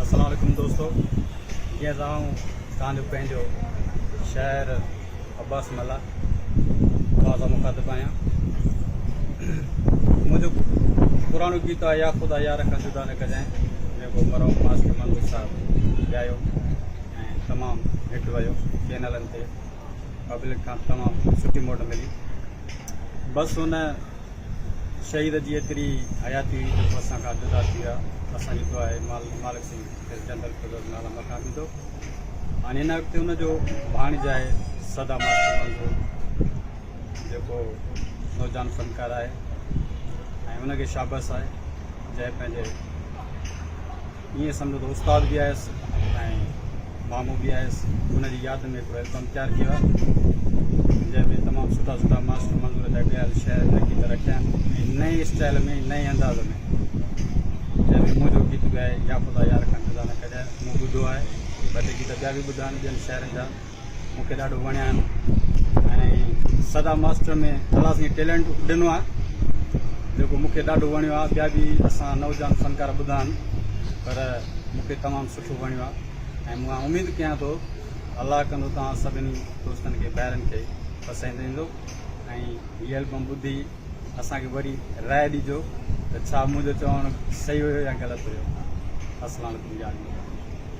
السلام عليڪم دوستو جي ته آئون تان جو پنهنجو شاعر عباس ملا تان سان مخاطب آهيان منهنجو پراڻو گيت آهي يا خدا يا رکا جدا نه ڪجائين جيڪو مرحوم ماسٽر منظور صاحب ڳايو ۽ تمام هٽ ويو چينلن تي پبلڪ کان تمام سٺي موٽ ملي بس هن شهيد جي ايتري حياتي هئي جو تو اسان کان جدا ٿي ويا اسان جي دعا آهي مالڪ سائين کيس جنت الفردوس ۾ اعليٰ مقام ڏيندو هاڻي هن وقت ان جو ڀاڻج آهي صدا مستر منظور جيڪو نوجوان فنڪار آهي ۽ ان کي شابس آهي جنهن پنهنجي ائين سمجهو ته استاد به آهيس ۽ مامو به آهيس ان جي ياد ۾ هڪڙو البم تيار ڪيو آهي جنهن ۾ تمام سٺا سٺا ماسٽر منظور جا ڳايل شعر ۽ گيت رکيا آهن ۽ نئين اسٽائل ۾ نئين انداز ۾ جنهن ۾ منهنجو گيت به آهي يا خدا يار کان خزانه ڪڍيا مون ٻڌو آهي ٻه ٽي گيت ٻيا به ٻڌا آهن ٻين شاعرن جا مون کي ڏاڍو وڻيا آهن ۽ سدا ماستر ۾ اهڙا سائين ٽيلنٽ ڏنو آهي جيڪو مون کي ڏاڍو وڻيو آهي ٻيا به اسان نوجوان فنڪار ٻڌا آهن پر مون کي تمام سٺو وڻيو آهي ۽ مون اميد ڪيان ٿو الله ڪندو توهان سڀني دوستن کي ڀائرن کي پسند ايندو ۽ هي البم ٻڌي اسانکي وري رائي ڏجو ته ڇا منهنجو چوڻ صحيح هيو يا غلط هيو السلام عليڪم جان